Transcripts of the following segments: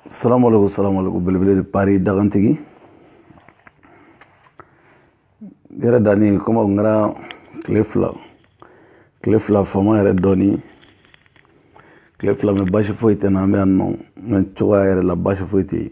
salamaleykum salamaleykum belebele de pari dagantigi yɛrɛ dani komi n kɛra tile fila tile fila fama yɛrɛ dɔɔni tile fila mɛ basi foyi tɛ na an bɛ yan nɔ mɛ cogoya yɛrɛ la basi foyi tɛ yen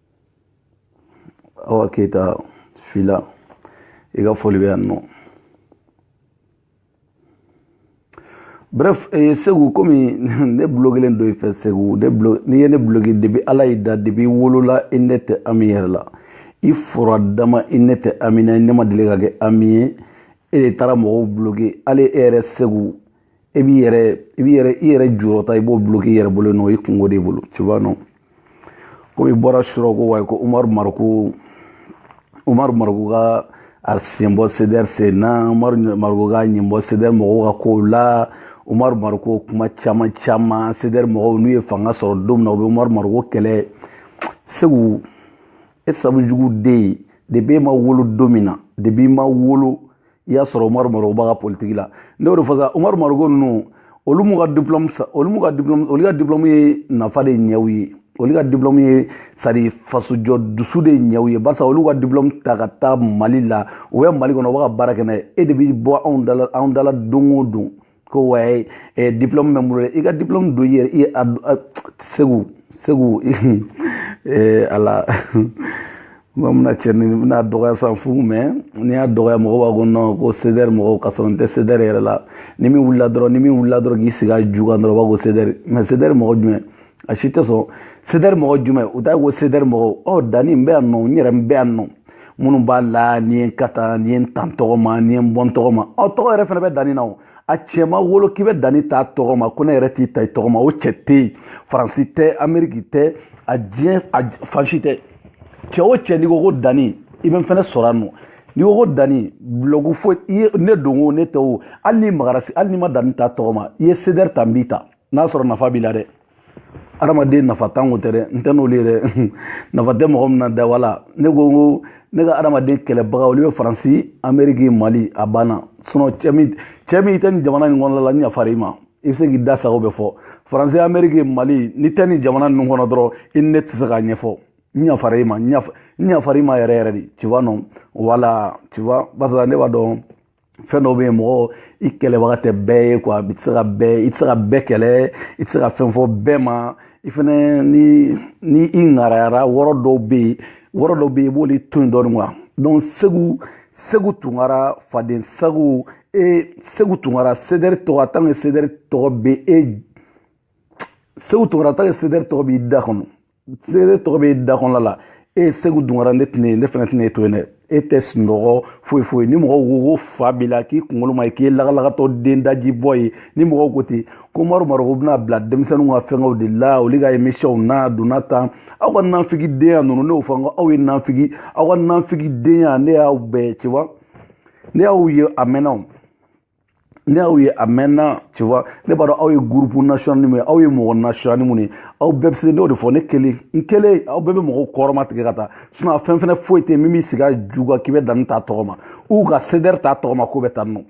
awa keyita fila i ka foli bɛ yan nɔ bref eh, segu komi ne bloquélen don i fɛ segu ne blo n'i ye ne bloqué depi ala y'i da depi i wolola i ne tɛ ami yɛrɛ la i fura dama i ne tɛ ami na i ne ma deli ka kɛ ami ye e de taara mɔgɔw bloqué hali e yɛrɛ segu e b'i yɛrɛ i b'i yɛrɛ i yɛrɛ jurɔta i b'o bloqué i yɛrɛ bolo nɔ i kunko de bolo tu vois non komi i bɔra surɔ ko wayi ko umaru mariko umaru mariko k'a sen bɔ sedɛri sen na umaru mariko k'a ɲɛ bɔ sedɛri mɔgɔw ka kow la umaru mariko kuma caman caman sedɛri mɔgɔw n'u ye fanga sɔrɔ don min na u bɛ umaru mariko kɛlɛ segu e sabu jugu den depi e ma wolo don min na depi i ma wolo i y'a sɔrɔ umaru mariko b'a ka politiki la ne y'o de fɔ sa umaru mariko ninnu olu m'u ka diplɔmu olu m'u ka diplɔmu olu ka diplɔmu ye nafa de ɲɛ u ye olu ka diplɔmu ye sadi fasojɔ dusu de ɲɛ u ye barisa olu ka diplɔmu ta ka taa mali la u bɛ mali kɔnɔ u bɛ ka baara kɛ n'a ye e de bɛ bɔ anw da la anw da la don o don ko wayi eh, diplôme bɛ n bolo i ka diplôme don yɛrɛ i a segu segu eh, ala mɔgɔ mina cɛ nin bɛna dɔgɔya san fu mɛ n'i y'a dɔgɔya mɔgɔ b'a ko nɔn ko sedɛri mɔgɔw ka sɔrɔ n tɛ sedɛri yɛrɛ la ni min wulila dɔrɔn ni min wulila dɔrɔn k'i sigi a ju kan dɔrɔn o b'a ko sedɛri mɛ sedɛri mɔgɔ jumɛn a si tɛ sɔn sedɛri mɔgɔ jumɛn u t'a ko sedɛri mɔgɔw ɔ dani n bɛ yan nɔ n yɛrɛ n bɛ yan nɔ minnu b'a la n'i ye n ka taa n'i ye n ta n tɔgɔ ma n'i ye n bɔ n tɔgɔ ma ɔ tɔgɔ yɛrɛ fana bɛ dani na o a cɛ ma wolo k'i bɛ dani t'a tɔgɔ ma ko ne yɛrɛ t'i ta i tɔgɔ ma o cɛ tɛ yen faransi tɛ ameriki tɛ a diɲɛ a fan si tɛ cɛ o cɛ n'i ko ko dani i bɛ n fana sɔrɔ yan nɔ n'i ko ko dani bulɔgu foyi i ye ne don o ne tɛ o hali n'i magara hali n'i ma dani t'a tɔgɔ ma i ye sedɛri ta n b'i ta n'a sɔrɔ nafa b'i la dɛ adamaden nafantan ko tɛ dɛ n tɛ n'olu ye dɛ nafa tɛ mɔgɔ min na dɛ wala ne ko n ko ne ka adamaden kɛlɛbaga olu bɛ faransi ameriki mali a banna sinɔn cɛ min cɛ min i tɛ nin jamana nin kɔnɔna la n yafara i ma i bɛ se k'i da sago bɛɛ fɔ faransi ameriki mali n'i tɛ nin jamana ninnu kɔnɔ dɔrɔn i ni ne tɛ se k'a ɲɛfɔ n yafara i ma n yafara i ma yɛrɛ yɛrɛ de tu vois non wala tu vois barisa ne b'a dɔn fɛn dɔw bɛ yen mɔgɔ i kɛlɛbaga tɛ bɛɛ ye quoi i tɛ se ka bɛɛ i tɛ se ka bɛɛ kɛlɛ i tɛ se ka fɛn fɔ bɛɛ ma i fɛnɛ ni ni i ŋarayara wɔrɔ dɔw bɛ yen wɔrɔ dɔw bɛ yen i b'olu to yen dɔɔni quoi donc segu segu tunkara faden sago e segu tunkara cdr tɔgɔ a tant que cdr tɔgɔ bɛ e segu tunkara a tant que cdr tɔgɔ b'i da kɔnɔ cdr tɔgɔ b'i da kɔnɔna la e ye segu tunkara ne tɛna ne fana tɛna e to yen dɛ e tɛ sunɔgɔ foyi foyi ni mɔgɔw ko ko fa b'i la k'i kunkolo man ɲi k'i ye lagalagatɔ den daji bɔ ye ni mɔgɔw ko ten k'umaru mariku bɛna bila denmisɛnninw ka fɛngɛw de la olu ka émissionw na donna tan aw ka nanfigi denya ninnu ne y'o fɔ n ko aw ye nanfigi aw ka nanfigi denya ne y'aw bɛɛ tu vois ne y'aw ye a mɛnna o ne y'aw ye a mɛnna tu vois ne b'a dɔn aw ye groupe national min ye aw ye mɔgɔ national minnu ye aw bɛɛ bɛ se n'o de fɔ ne kelen n kelen aw bɛɛ bɛ mɔgɔw kɔrɔmatigɛ ka taa sinon a fɛn fɛnɛ foyi tɛ min b'i sigi a ju kan k'i bɛ dani t'a tɔgɔ ma ou ka cdr t'a tɔgɔ ma k'o bɛ tan nɔ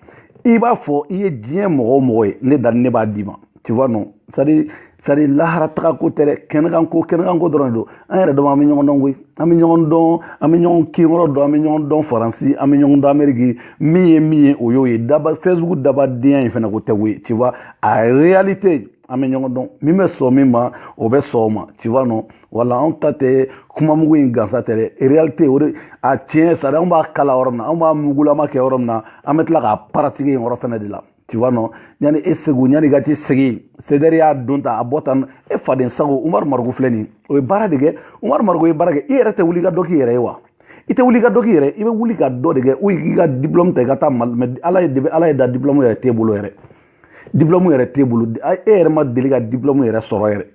i b'a fɔ i ye diɲɛ mɔgɔ o mɔgɔ ye ne dani ne b'a d'i ma tu vois non c'est à dire c'est à dire lahara taga ko tɛ dɛ kɛnɛkan ko kɛnɛkan ko dɔrɔn de don an yɛrɛ dama an bɛ ɲɔgɔn dɔn koyi an bɛ ɲɔgɔn dɔn an bɛ ɲɔgɔn kinyɔrɔ dɔn an bɛ ɲɔgɔn dɔn faransi an bɛ ɲɔgɔn dɔn amɛriki min ye min ye o y'o ye daba facebook dabadenya in fana ko tɛ koyi tu vois a réalité an bɛ ɲɔgɔn dɔn min bɛ sɔn min ma o bɛ sɔn o ma tu vois non wala anw ta tɛ kuma mugu in gansa tɛ dɛ réalité o de a tiɲɛ c'est à dire anw b'a kalan yɔrɔ min na anw b'a mugulama kɛ yɔrɔ min na an bɛ tila k'a pratiquer yen yɔrɔ fana de la tu vois non yani e segu yani ka t'i sigi cdr y'a don tan a bɔ tan e faden sago umaru mariku filɛ nin o ye baara de kɛ umaru mariku ye baara kɛ i yɛrɛ tɛ wuli ka dɔ k'i yɛrɛ ye wa i tɛ wuli ka dɔ k'i yɛrɛ i bɛ wuli ka dɔ de kɛ ou k'i ka diplôme ta i ka taa mali mais ala ye debi ala ye da diplôme yɛrɛ t'e bolo yɛrɛ diplôme yɛrɛ t'e bolo e yɛrɛ ma deli ka diplôme yɛrɛ sɔrɔ yɛrɛ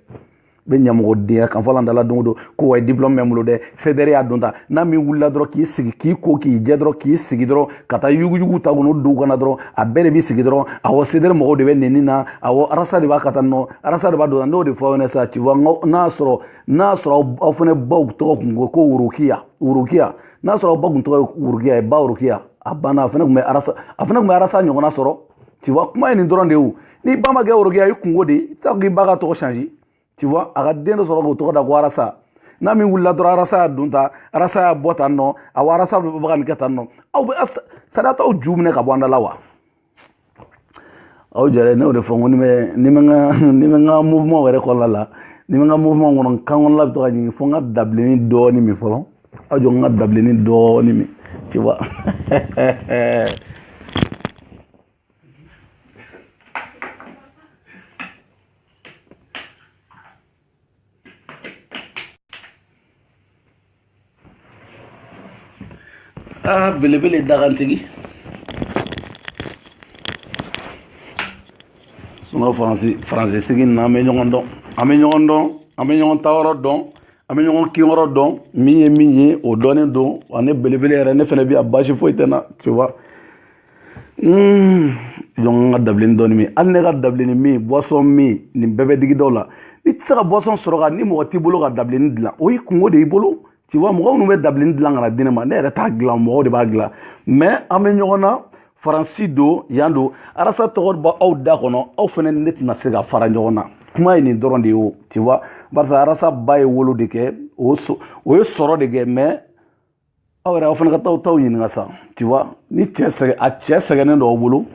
bɛ ɲamɔgɔdenya kan fɔla an da la don o don ko ouais diplôme bɛ n bolo dɛ cdr y'a don tan n'a min wulila dɔrɔn k'i sigi k'i ko k'i jɛ dɔrɔn k'i sigi dɔrɔn ka taa yuguyugu ta kɔnɔ duw kɔnɔ dɔrɔn a bɛɛ de b'i sigi dɔrɔn awɔ cdr mɔgɔw de bɛ nɛni na awɔ arasa de b'a kɛ tan nɔ arasa de b'a don n'o de fɔ aw ɲɛna sisan tu vois n'a sɔrɔ n'a sɔrɔ aw fana baw tɔgɔ kun ko ko worokiya worokiya n'a sɔrɔ aw ba kun tɔgɔ ye worokiya ye ba worokiya a banna a fana tun bɛ arasa a fana tun bɛ arasa ɲɔgɔnna sɔrɔ tu vois kuma ye nin dɔrɔn de ye o n'i ba ma kɛ worokiya ye i kunko de ye i t'a fɔ k'i ba ka tɔgɔ changer tu vois a ka den dɔ sɔrɔ k'o tɔgɔ da ko arasa n'a min wulila dɔrɔn arasa y'a don tan arasa y'a bɔ tan nɔ awa arasa bɛ ka nin kɛ tan nɔ aw bɛ c'est à dire aw t'aw ju minɛ ka bɔ an da la wa aw jɛrɛ ne y'o de fɔ n ko ni bɛ ni bɛ n ka ni bɛ n ka mouvement yɛrɛ kɔnɔna la ni bɛ n ka mouvement kɔnɔ n kan kɔnɔna bɛ to ka ɲigin fo n ka dabilenni dɔɔni min fɔlɔ aw jɔ n ka dabilenni dɔɔni min tu vois aa ah, belebele dagantigi sinon faransi faransi sigi na an bɛ ɲɔgɔn dɔn an bɛ ɲɔgɔn dɔn an bɛ ɲɔgɔn tayɔrɔ dɔn an bɛ ɲɔgɔn kinyɔrɔ dɔn min ye min ye o dɔnnen don wa ne belebele yɛrɛ ne fana bɛ yan baasi foyi tɛ n na tu vois Hmm, jɔn ka dabilenni dɔɔni min hali ne ka dabilenni min boisson min nin bɛɛ bɛ digi dɔw la i tɛ se ka boisson sɔrɔ ka ni mɔgɔ t'i bolo ka dabilenni dilan o y'i kunko de y'i bolo tu vois mɔgɔ minnu bɛ dabilenni dilan ka na di ne ma ne yɛrɛ t'a dilan mɔgɔw de b'a dilan mais an bɛ ɲɔgɔn na faransi don yan don arasa tɔgɔ bɔ aw da kɔnɔ aw fana ne tɛna se ka fara ɲɔgɔn na kuma ye nin dɔrɔn de ye o tu vois barisa arasa ba ye wolo de kɛ o ye sɔrɔ de kɛ mais aw yɛrɛ aw fana ka taa taw ɲininka sa tu vois ni cɛ sɛgɛ a cɛ sɛgɛnnen don aw bolo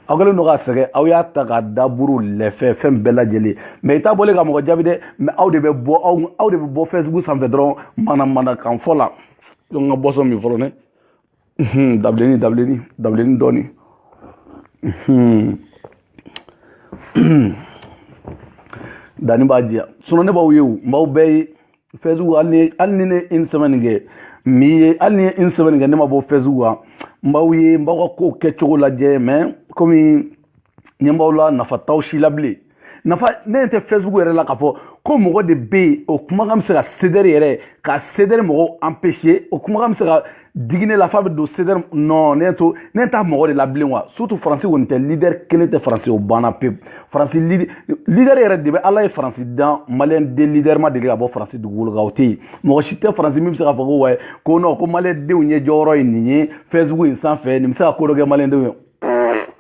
aw kɛlen don k'a sɛgɛn aw y'a ta ka daburu lɛfɛ fɛn bɛɛ lajɛlen mais i t'a bɔlen ka mɔgɔ jaabi dɛ mais aw de bɛ bɔ aw aw de bɛ bɔ facebook sanfɛ dɔrɔn manamanakan fɔ la donc n ka boisson min fɔlɔ ne dabileni dabileni dabileni dɔɔni danni b'a diya sinon ne b'aw ye o n b'aw bɛɛ ye facebook hali ni ne ye une semaine kɛ même hali ni n ye une semaine kɛ ne ma bɔ facebook kan n b'aw ye n b'aw ka kow kɛcogo lajɛ mais komi ɲɛ b'aw la nafa t'aw si la bilen nafa ne ɲɛ tɛ facebook yɛrɛ la k'a fɔ ko mɔgɔ de bɛ yen o kumakan bɛ se ka CDR yɛrɛ ka CDR mɔgɔw empêcher o kumakan bɛ se ka digi ne la f'a bɛ don CDR non ne to ne t'a mɔgɔ de la bilen wa surtout faransi kɔni tɛ leader kelen tɛ faransi o banna pewu faransi leader yɛrɛ de bɛ ala ye faransi dan maliyɛn den leader ma deli ka bɔ faransi dugukolo kan o tɛ yen mɔgɔ si tɛ faransi min bɛ se k'a fɔ ko wayi ko non ko maliyɛn denw ye jɔyɔrɔ ye nin ye facebook in sanfɛ nin bɛ se ka ko dɔ kɛ maliyɛn denw ye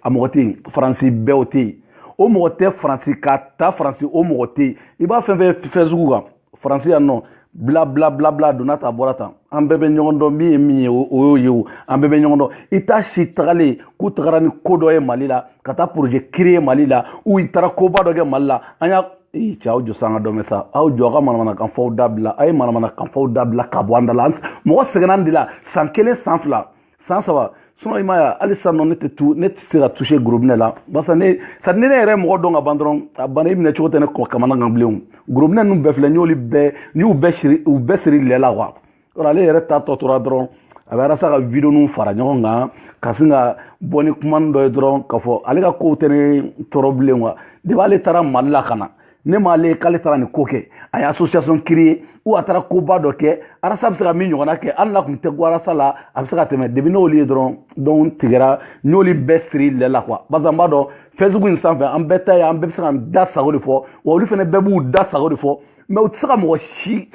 a mɔgɔ tɛ yen faransi bɛɛ o tɛ yen o mɔgɔ tɛ faransi ka taa faransi o mɔgɔ tɛ yen i b'a fɛn fɛn facebook kan faransi yan nɔ bla bla bla bla donna tan bɔra tan an bɛɛ bɛ ɲɔgɔn dɔn min ye min ye o y'o ye o an bɛɛ bɛ ɲɔgɔn dɔn i t'a si tagalen k'u tagara ni ko dɔ ye mali la ka taa projet créer mali la ou i taara koba dɔ kɛ mali la an y'a ee cɛ aw jɔ sa an ka dɔ mɛn sa aw jɔ aw ka manamanakan fɔw dabila a ye manamanakan fɔw dabila ka bɔ an da la mɔgɔ sɛgɛnna de la san kelen san fila san saba sinon i m'a ye hali sisan nɔ ne tɛ tu ne tɛ se ka toucher gorobinɛ la barisa ne c'est-à-dire ne ne yɛrɛ mɔgɔ dɔn ka ban dɔrɔn a banna i minɛ cogo tɛ ne kamanagan bilen gorobinɛ ninnu bɛɛ filɛ n y'olu bɛɛ n y'u bɛɛ siri u bɛɛ siri lɛ la quoi yɔrɔ ale yɛrɛ ta tɔ tora dɔrɔn a bɛ arasa ka video ninnu fara ɲɔgɔn kan ka sin ka bɔ ni kumani dɔ ye dɔrɔn k'a fɔ ale ka kow tɛ ne tɔɔrɔ bilen quoi depuis ale taara mali la ka na ne ma ale k'ale taara nin ko kɛ a ye association créer ou a taara koba dɔ kɛ arasa bɛ se ka min ɲɔgɔnna kɛ hali n'a tun tɛ ko arasa la a bɛ se ka tɛmɛ depuis n'olu ye dɔrɔn donc tigɛra n y'olu bɛɛ siri lɛ la quoi barisa n b'a dɔn facebook in sanfɛ an bɛɛ ta ye an bɛɛ bɛ se k'a da sago de fɔ wa olu fana bɛɛ b'u da sago de fɔ mais u tɛ se ka mɔgɔ si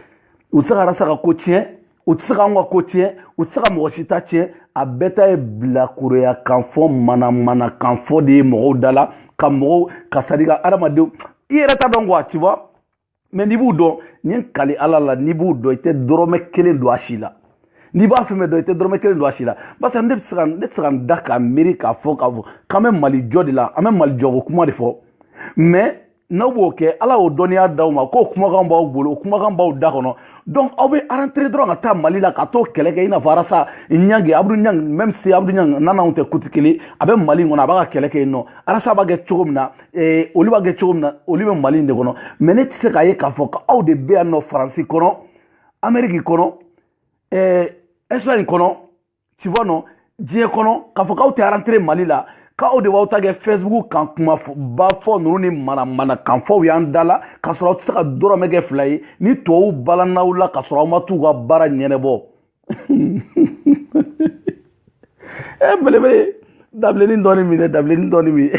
u tɛ se ka arasa ka ko tiɲɛ u tɛ se ka anw ka ko tiɲɛ u tɛ se ka mɔgɔ si ta tiɲɛ a bɛɛ ta ye bilakoroya kan fɔ manamana kan fɔ de ye mɔgɔw da la ka mɔgɔw ka c'est-à-dire ka adamadenw i yɛrɛ t'a dɔn quoi tu vois mais n'i b'u dɔn n ye n kali ala la n'i b'u dɔn i tɛ dɔrɔmɛ kelen don a si la n'i b'a fɛn fɛn dɔn i tɛ dɔrɔmɛ kelen don a si la barisa ne bɛ se ka ne tɛ se ka n da k'a miiri k'a fɔ k'a fɔ k'an bɛ mali jɔ de la an bɛ mali jɔko kuma de fɔ mais n'aw b'o kɛ ala y'o dɔnniya d'aw ma k'o kumakan b'aw bolo o kumakan b'aw da kɔnɔ donc aw bɛ rentrer dɔrɔn ka taa mali la ka t'o kɛlɛ kɛ i n'a fɔ arasa ɲange abudu ɲange même si abudu ɲange n'anw tɛ côté kelen a bɛ mali kɔnɔ a b'a ka kɛlɛ kɛ yen nɔ arasa b'a kɛ cogo min na eh, olu b'a kɛ cogo min na olu bɛ mali in de kɔnɔ mais ne tɛ se k'a ye k'a fɔ ko aw de bɛ yan nɔ faransi kɔnɔ ameriki kɔnɔ eh, espagne kɔnɔ tu vois non diɲɛ kɔnɔ k'a fɔ k'aw tɛ rentrer mali la k'aw de b'aw ta kɛ facebook kan kuma ba fɔ ninnu ni manamanakan fɔw y'an da la k'a sɔrɔ aw tɛ se ka dɔrɔmɛ kɛ fila ye ni tubabuw balan'aw la k'a sɔrɔ aw ma t'u ka baara ɲɛnɛbɔ e belebele dabilennin dɔɔni min dɛ dabilennin dɔɔni min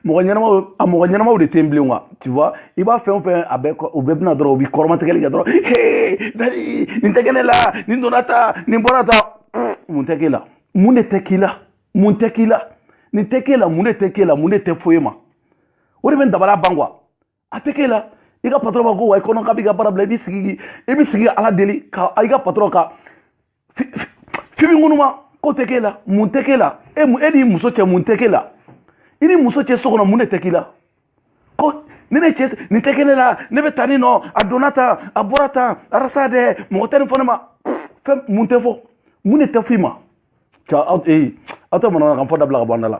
mɔgɔ ɲɛnamaw a mɔgɔ ɲɛnamaw de tɛ yen bilen wa tu vois i b'a fɛn o fɛn a bɛɛ o bɛɛ bɛ na dɔrɔn u b'i kɔrɔmatigɛli kɛ dɔrɔn hee dali nin tɛ kɛ ne la nin donna tan nin bɔra tan mun tɛ k'e la mun de tɛ k'i la mun tɛ k'i la nin tɛ k'e la mun de tɛ k'e la mun de tɛ fɔ i ma o de bɛ n dabara ban quoi a tɛ k'e la i ka patɔrɔn b'a ko wa i kɔnɔ k'a b'i ka baara bila i b'i sigi i b'i sigi ka ala deli ka i ka patɔrɔn ka fimi ŋunuma ko tɛ k'e la mun tɛ k'e la e e n'i muso cɛ mun tɛ k'e la i ni muso cɛ so kɔnɔ mun de tɛ k'i la ko ne ne cɛ nin tɛ kɛ ne la ne bɛ taa ni nɔ a donna tan a bɔra tan arasa dɛ mɔgɔ tɛ nin fɔ ne ma fɛn mun tɛ fɔ mun de tɛ f'i ma ca aw ee aw tɛ manamanakan fɔ dabila ka bɔ an da la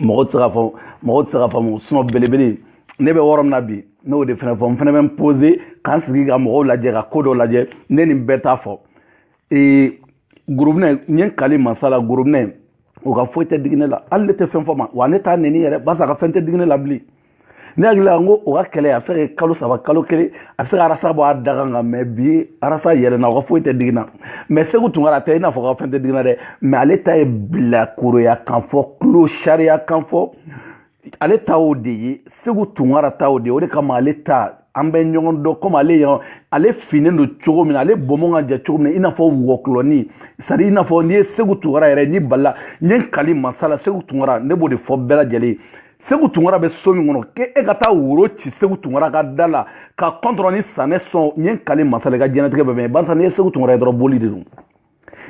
mɔgɔ tɛ se k'a fɔ mɔgɔ tɛ se k'a faamu sinon belebele ne bɛ yɔrɔ min na bi n'o de fana fɔ n fana bɛ n poser k'an sigi ka mɔgɔw lajɛ ka ko dɔ lajɛ ne ni bɛɛ t'a fɔ ee gorobinɛ n ye n kali masa la gorobinɛ o ka foyi tɛ digi ne la hali ne tɛ fɛn fɔ a ma wa ne t'a nɛni yɛrɛ barisa a ka fɛn tɛ digi ne la bilen ne hakili la ko o ka kɛlɛ a bɛ se ka kɛ kalo saba kalo kelen a bɛ se ka arasa bɔ a da kan nka mais bi arasa yɛlɛna o ka foyi tɛ digi n na mais segu tunkara a tɛ i n'a fɔ ka fɛn tɛ digi n na dɛ mais ale ta ye bilakoroya kan fɔ tulo sariya kan fɔ ale ta o de ye segu tunkara ta o de ye o de kama ale ta an bɛ ɲɔgɔn dɔn komi ale yan ale finnen don cogo min na ale bɔnbɔn ka jan cogo min na i n'a fɔ wɔkulɔni c'est-à-dire i n'a fɔ n'i ye segu tunkara yɛrɛ n'i balila n ye n kali masa la segu tunkara ne b'o de fɔ bɛɛ lajɛlen segu tunkara bɛ so min kɔnɔ k'e ka taa woro ci segu tunkara ka da la ka kɔntɔrɔ ni sanɛ sɔn n ye n kali masa la i ka diɲɛnatigɛ bɛɛ bɛn barisa n'i ye segu tunkara ye dɔrɔn boli de don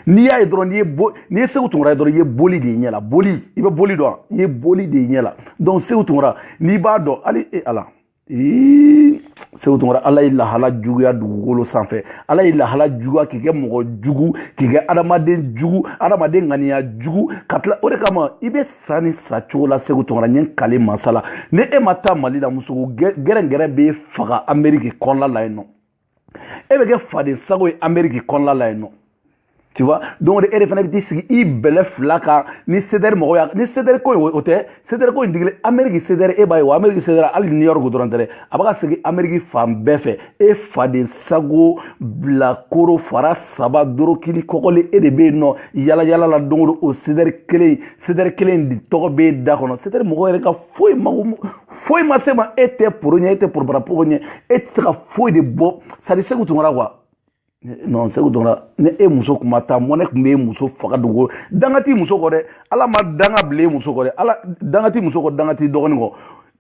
n'i y'a ye dɔrɔn n'i ye bo n'i ye segu tunkara ye dɔrɔn i ye boli de y'i ɲɛ la boli i bɛ boli dɔn i ye boli de y'i ɲɛ la donc segu tunkara n'i b'a dɔn hali e ala ee segu tunkara ala y'i lahala juguya dugukolo sanfɛ ala y'i lahala juguya k'i kɛ mɔgɔ jugu k'i kɛ adamaden jugu adamaden ŋaniya jugu ka tila o de kama i bɛ sa nin sa cogo la segu tunkara n ye n kali masa la ni e ma taa mali la muso gɛrɛngɛrɛ b'e faga ameriki kɔnɔla la yen nɔ e bɛ kɛ faden sago ye ameriki kɔnɔla la yen nɔ tu vois donc e de fana bɛ t'i sigi i bɛlɛ fila kan ni sedɛri mɔgɔw y'a ni sedɛri ko in o tɛ sedɛri ko in digili ameriki sedɛri e b'a ye wa ameriki sedɛri hali new york dɔrɔn tɛ dɛ a bɛ ka segin ameriki fan bɛɛ fɛ e faden sago bilakoro fara saba dorokili kɔkɔli e de bɛ yen nɔ yalayala la don o don o sedɛri kelen sedɛri kelen tɔgɔ bɛ e da kɔnɔ sedɛri mɔgɔ yɛrɛ ka foyi mago foyi ma s'e ma e tɛ poro ɲɛ e tɛ porobarapoko ɲɛ e tɛ se ka foyi de bɔ c'est à dire segu tunkara quoi non segu tunkara ni e muso kun ma taa mɔnɛ kun bɛ e muso faga dogo danga t'i muso kɔ dɛ ala ma danga bila e muso kɔ dɛ ala danga t'i muso kɔ danga t'i dɔgɔnin kɔ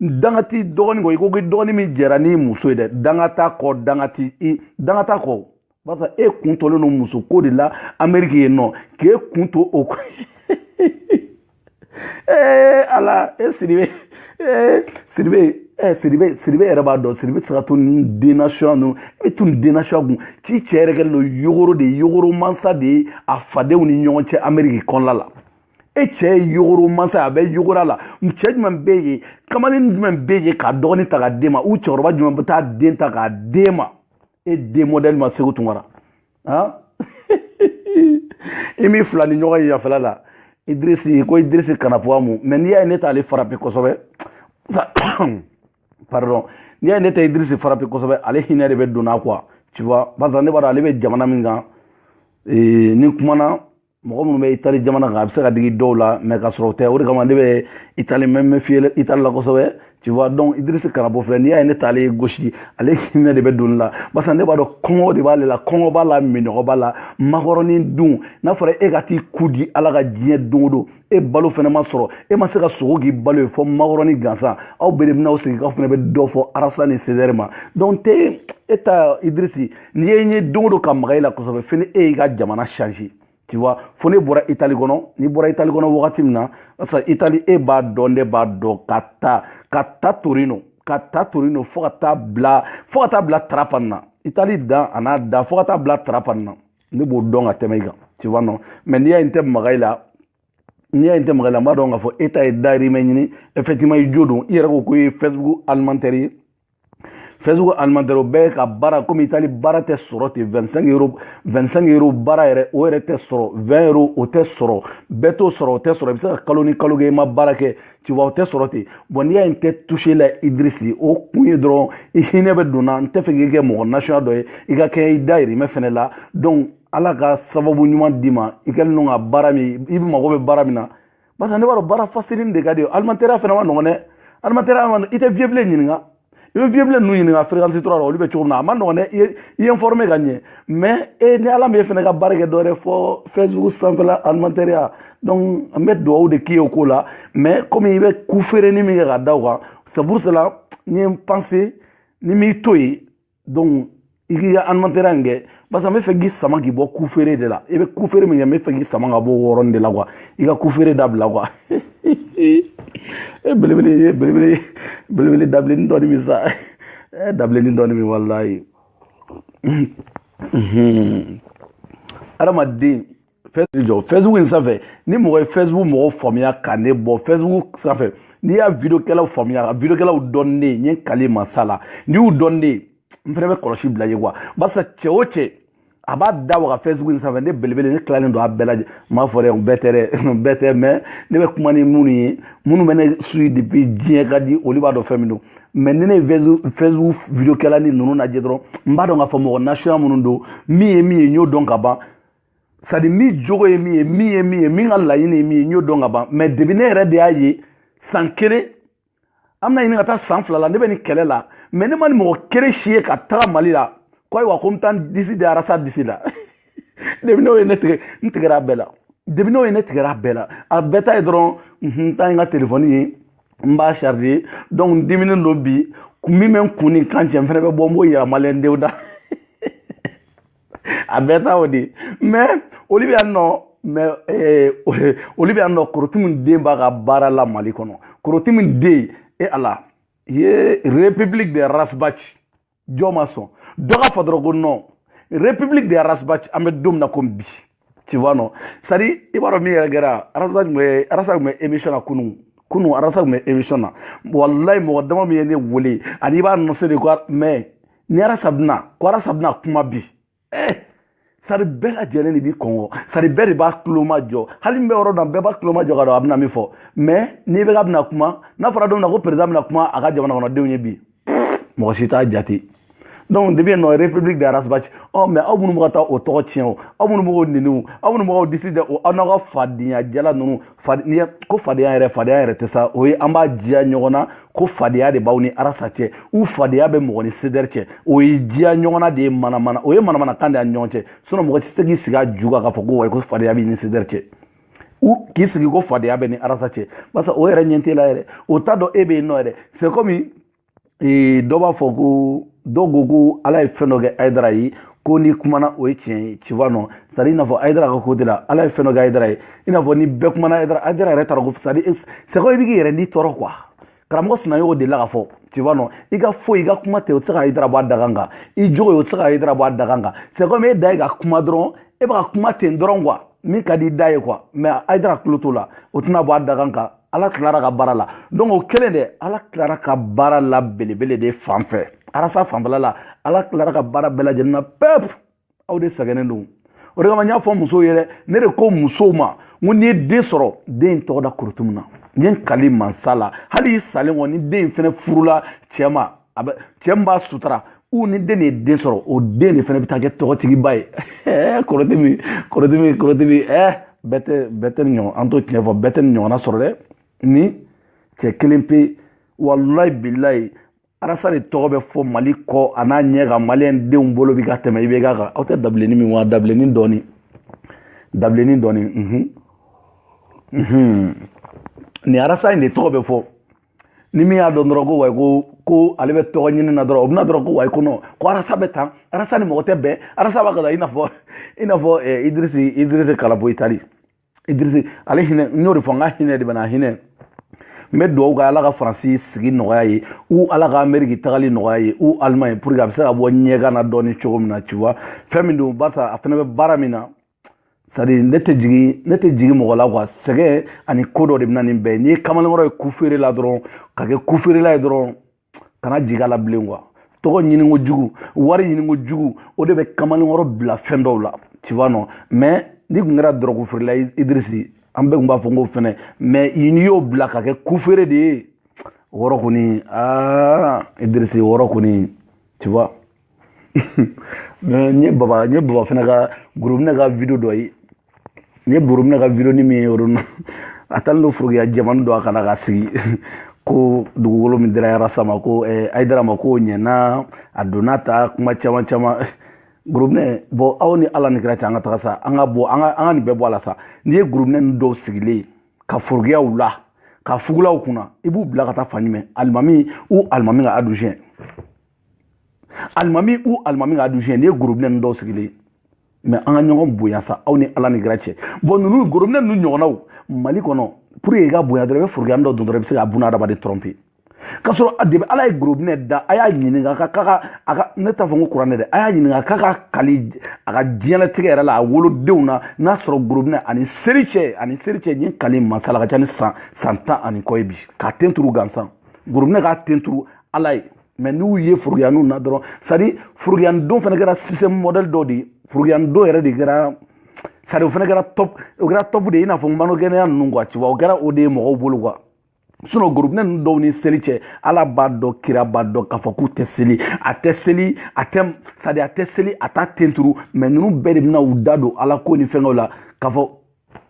danga t'i dɔgɔnin kɔ i ko ko dɔgɔnin min jɛra n'i muso ye dɛ danga t'a kɔ danga t'i i danga t'a kɔ barisa e kun tɔlen don muso ko de la ameriki yen nɔ k'e kun to o ko ee ala e sidibe ee sidibe ee sidibe sidibe yɛrɛ b'a dɔn sidibe tɛ se ka to nin denasɔya ninnu i bɛ to nin denasɔya kun ci cɛ yɛrɛ kɛlen don yogoro de ye yogoro mansa de ye a fadenw ni ɲɔgɔn cɛ ameriki kɔnɔna la e cɛ ye yogoro mansa a bɛ yogoro la cɛ jumɛn bɛ yen kamalen jumɛn bɛ yen k'a dɔgɔnin ta k'a d'e ma u cɛkɔrɔba jumɛn bɛ t'a den ta k'a d'e ma e den mɔdɛli ma segu tunkara han i m'i filanin ɲɔgɔn ye yafɛla la idirisi ko idirisi kanapuwa mu mais n'i y'a ye ne t'ale frappé kosɛbɛ pardon n'i y'a ye ne tɛ idirisi frappé kosɛbɛ ale hinɛ de bɛ don n na quoi tu vois barisa ne b'a dɔn ale bɛ jamana min kan ni kumana mɔgɔ minnu bɛ itali jamana kan a bɛ se ka digi dɔw la mais k'a sɔrɔ o tɛ o de kama ne bɛ itali mé méfier itali la kosɛbɛ tu vois donc idirisi kanabo filɛ n'i y'a ye ne t'ale gosi ale hinɛ de bɛ don ne la barisa ne b'a dɔn kɔngɔ de b'ale la kɔngɔ b'a la minnɔgɔ b'a la makɔrɔni dun n'a fɔra e ka t'i ku di ala ka diɲɛ don o don e balo fɛnɛ ma sɔrɔ e ma se ka sogo k'i balo ye fɔ makɔrɔni gansan aw bɛɛ de bɛna aw sigi k'aw fɛnɛ bɛ dɔ fɔ arasa ni sedɛri ma donc te e ta idirisi n'i ye n ye don o don ka maga i la kosɛbɛ fo ni e y'i ka jamana changé tu vois fo ne bɔra itali kɔnɔ n'i bɔra itali kɔnɔ wagati min na parce que itali e b'a dɔn ne b'a dɔn ka ta ka ta torino ka ta torino fo ka taa bila fo ka taa bila tarapan na itali dan a n'a da fo ka taa bila tarapan na ne b'o dɔn ka tɛmɛ i kan tu vois non mais n'i y'a ye n tɛ maga i la n'i y'a ye n tɛ maga i la n b'a dɔn k'a fɔ e ta ye dayirimɛ ɲini effectivement i jo don i yɛrɛ ko ko i ye facebook alimentaire ye facebook alimentaire o bɛɛ ka baara komi itali baara tɛ sɔrɔ ten 25 euro 25 euro baara yɛrɛ o yɛrɛ tɛ sɔrɔ 20 euro o tɛ sɔrɔ bɛɛ t'o sɔrɔ o tɛ sɔrɔ i bɛ se ka kalo ni kalo kɛ i ma baara kɛ tu vois o tɛ sɔrɔ ten bon n'i y'a ye n tɛ touché la idirisi o kun ye dɔrɔn i hinɛ bɛ don n na n tɛ fɛ k'i kɛ mɔgɔ nasuya dɔ ye i ka kɛ i dayirimɛ fɛnɛ la donc ala ka sababu ɲuman d'i ma i kɛlen don ka baara min i mago bɛ baara min na parce que ne b'a dɔn baara fasilini de ka di i ye alimatɛriya fana ma nɔgɔn dɛ alimatɛriya ma i tɛ vieux bilen ɲininka i bɛ vieux bilen ninnu ɲininka fréquence trois la olu bɛ cogo min na a ma nɔgɔn dɛ i ye i ye informé ka ɲɛ mais e ni ala m'e fana ka baara kɛ dɔwɛrɛ fo facebook sanfɛla alimatɛriya donc an bɛ duwawu de k'i ye o ko la mais komi i bɛ ku feereni min kɛ ka da o kan c'est pour cela n ye n pense ni m'i to yen donc i k'i ka alimantɛrɛya in kɛ parce que n bɛ fɛ k'i sama k'i bɔ kufeere de la i bɛ kufeere min kɛ n bɛ fɛ k'i sama ka bɔ o yɔrɔnin de la quoi i ka kufeere dabila quoi e belebele ye belebele belebele dabilenni dɔɔni min sa ɛ dabilenni dɔɔni min walayi adamaden jɔ facebook in sanfɛ ni mɔgɔ ye facebook mɔgɔw faamuya ka ne bɔ facebook sanfɛ n'i y'a videokɛlaw faamuya videokɛlaw dɔn ne ye n ye kali masa la n'i y'u dɔn ne ye n fɛnɛ bɛ kɔlɔsi bila i ye quoi barisa cɛ o cɛ a b'a da waga facebook in sanfɛ ne belebele ne tilalen don a bɛɛ lajɛ n m'a fɔ dɛ n bɛɛ tɛ dɛ n bɛɛ tɛ mais ne bɛ kuma ni minnu ye minnu bɛ ne suivi depuis diɲɛ ka di olu b'a dɔn fɛn min don mais ni ne ye facebook videokɛlani ninnu lajɛ dɔrɔn n b'a dɔn k'a fɔ mɔgɔ nasuya minnu don min ye min ye n y'o dɔn ka ban c'est à dire min jogo ye min ye min ye min ye min ka laɲini ye min ye n y'o dɔn ka ban mais depuis ne yɛrɛ de y'a ye san kelen an bɛna ɲini ka taa san fila la ne bɛ nin kɛlɛ la mais ne ma nin mɔgɔ kelen si ye ka taga mali la ko ayiwa ko n bɛ taa n disi da ras disi la depuis n'o ye ne tigɛ n tigɛra a bɛɛ la depuis n'o ye ne tigɛra a bɛɛ la a bɛɛ ta ye dɔrɔn n taa n ka telefɔni ye n b'a charge donc n diminen don bi ko min bɛ n kun ni kan cɛ n fana bɛ bɔ n b'o yira maliyɛndenw da a bɛɛ ta o de mais olu bɛ yan nɔ mais eh, olu bɛ yan nɔ korotimu den b'a ka baara la mali kɔnɔ korotimu den e ala ye république de ras bath jɔ ma sɔn dɔ k'a fɔ dɔrɔn ko non république de ras bath an bɛ don min na komi bi tu vois non c'est à dire i b'a dɔn min yɛrɛ kɛra arasa tun bɛ arasa tun bɛ émission na kunun kunun arasa tun bɛ émission na walayi mɔgɔ dama min ye ne wele ani i b'a annoncé de ko mais ni arasa bɛna ko arasa bɛna kuma bi eh sari bɛɛ lajɛlen de b'i kɔnɔ sari bɛɛ de b'a tulomajɔ hali min bɛ yɔrɔ dɔn bɛɛ b'a tulomajɔ ka dɔn a bɛna min fɔ mais ni ibk bɛna kuma n'a fɔra don min na ko président bɛna kuma a ka jamana kɔnɔdenw ye bi mɔgɔ si t'a jate donc depuis yen nɔ république de ras bath ɔ mais aw minnu bɛ ka taa o tɔgɔ tiɲɛ o aw minnu bɛ k'o nɛni o aw minnu bɛ k'o disi da o aw n'aw ka fadenya jalan ninnu fadenya ko fadenya yɛrɛ fadenya yɛrɛ tɛ sa o ye an b'a diya ɲɔgɔn na ko fadenya de b'aw ni arasa cɛ ou fadenya bɛ mɔgɔ ni cdr cɛ o ye diya ɲɔgɔn na de ye manamana o ye manamana kan de y'an ni ɲɔgɔn cɛ sinon mɔgɔ tɛ se k'i sigi a ju kan k'a fɔ ko wayi ko fadenya b'i ni cdr cɛ ou k'i sigi ko fadenya b'e ni arasa cɛ barisa o yɛrɛ ɲɛ t'e la yɛrɛ o t'a dɔn e bɛ yen nɔ yɛrɛ c'est comme dɔ b'a fɔ ko dɔw ko ko ala ye fɛn dɔ kɛ ayidara ye ko n'i kumana o ye tiɲɛ ye tu vois non c'est à dire i n'a fɔ ayidara ka côté la ala ye fɛn dɔ kɛ ayidara ye i n'a fɔ ni bɛɛ kumana ayidara ayidara yɛrɛ taara ko c'est à dire c'est comme i bɛ k'i yɛrɛ ni tɔɔrɔ quoi karamɔgɔ sinayogo de la ka fɔ tu vois non i ka foyi i ka kuma tɛ o tɛ se ka ayidara bɔ a dagan kan i jogo ye o tɛ se ka ayidara bɔ a dagan kan c'est comme e da ye ka kuma dɔrɔn e bɛ ka kuma ten dɔrɔn quoi min ka di i da ye quoi mais ayidara tulo t'o la o tɛna bɔ a dagan kan ala tilara ka baara la donc o kelen de ala tilara ka baara la belebele de fan fɛ arasa fanfɛla la ala tilara ka baara bɛɛ lajɛlen na pep aw de sɛgɛnnen don o de kama n y'a fɔ musow ye dɛ ne de ko musow ma n ko n'i ye den sɔrɔ den in tɔgɔ da korotumu na n ye n kali mansa la hali i salen kɔ ni den in fɛnɛ furula cɛ ma a bɛ cɛ min b'a sutura ou ni den de ye den sɔrɔ o den de fɛnɛ bɛ taa kɛ tɔgɔtigiba ye ɛɛ korotumu korotumu korotumu ɛɛ bɛɛ tɛ bɛɛ tɛ nin ɲɔgɔn an t'o tiɲɛ fɔ bɛɛ tɛ nin ɲɔgɔnna sɔrɔ dɛ nin cɛ kelen pe walayi bilayi arasa de tɔgɔ bɛ fɔ mali kɔ a n'a ɲɛ ka maliyɛn denw bolo bi ka tɛmɛ ibk kan aw tɛ dabilenni min wa dabilenni dɔɔni dabilenni dɔɔni mhm mhm nin arasa in de tɔgɔ bɛ fɔ ni min y'a dɔn dɔrɔn ko wayi ko ko ale bɛ tɔgɔ ɲini na dɔrɔn o bɛ na dɔrɔn ko wayi ko non ko arasa bɛ tan arasa ni mɔgɔ tɛ bɛn arasa b'a ka taa i n'a fɔ i n'a fɔ idirisi idirisi kalabo itali idirisi ale hinɛ n y'o de fɔ n ka hinɛ de bɛ n na hinɛ n bɛ dugawu kɛ ala ka faransi sigi nɔgɔya ye ou ala ka ameriki tagali nɔgɔya ye ou allemagne pour que a bɛ se ka bɔ ɲɛgan na dɔɔni cogo min na tu vois fɛn min don barisa a fana bɛ baara min na c'est à dire ne tɛ jigin ne tɛ jigin mɔgɔ la quoi sɛgɛn ani ko dɔ de bɛ na nin bɛɛ n'i ye kamalenkɔrɔ ye ku feere la dɔrɔn ka kɛ ku feerela ye dɔrɔn kana jig'a la bilen quoi tɔgɔ ɲininko jugu wari ɲininko jugu o de bɛ kamalenkɔrɔ bila fɛn dɔw la tu vois non mais n'i kun kɛra dɔrɔgu feerela idirisi an bɛɛ kun b'a fɔ n k'o fɛnɛ mais n'i y'o bila ka kɛ ku feere de ye o yɔrɔ kɔni aa idirisi o yɔrɔ kɔni tu vois n ye baba n ye baba fana ka gorobinɛ ka video dɔ ye n ye gorobinɛ ka video ni min ye yɔrɔ na a taalen don forokiya jɛmani dɔ a kan na ka sigi ko dugukolo min dira arasa ma ko eh, ayidara ma k'o ɲɛna a donna ta kuma caman caman gorobinɛ bon aw ni ala ni kira cɛ an ka taga sa an ka bɔ an ka an ka nin bɛɛ bɔ a la sa n'i ye gorobinɛ ninnu dɔw sigilen ka forokiyaw la ka fugulaw kun na i b'u bila ka taa fan jumɛn alimami ou alimami ka adjoint alimami ou alimami ka adjoint n'i ye gorobinɛ ninnu dɔw sigilen mais an ka ɲɔgɔn bonya sa aw ni ala ni kira cɛ bon ninnu gorobinɛ ninnu ɲɔgɔnnaw mali kɔnɔ pour que i ka bonya dɔrɔn i bɛ forokiyani dɔ don dɔrɔn i bɛ se ka bunadamaden tromper k'a sɔrɔ depuis ala ye gorobinɛ da a y'a ɲininka ka k'a ka a ka ne t'a fɔ n ko kuranɛ dɛ a y'a ɲininka k'a ka kali a ka diɲɛlatigɛ yɛrɛ la a wolodenw na n'a sɔrɔ gorobinɛ ani seri cɛ ani seri cɛ ɲin kali masala ka ca ni san san tan ani kɔ ye bi k'a ten turu gansan gorobinɛ k'a ten turu ala ye mais n'u ye forokiyaniw na dɔrɔn c'est à dire forokiya don fana kɛra sisan modèle dɔ de ye forokiya don yɛrɛ de kɛra c'est à dire o fana kɛra top o kɛra top de ye i n'a fɔ mannequinya ninnu quoi ci o kɛra o de ye mɔgɔw bolo quoi sinon gorobinɛ ninnu dɔw ni seli cɛ ala b'a dɔn kira b'a dɔn k'a fɔ k'u tɛ seli a tɛ seli a tɛ sadi a tɛ seli a t'a ten turu mais ninnu bɛɛ de bɛna u da don ala ko ni fɛnkɛw la k'a fɔ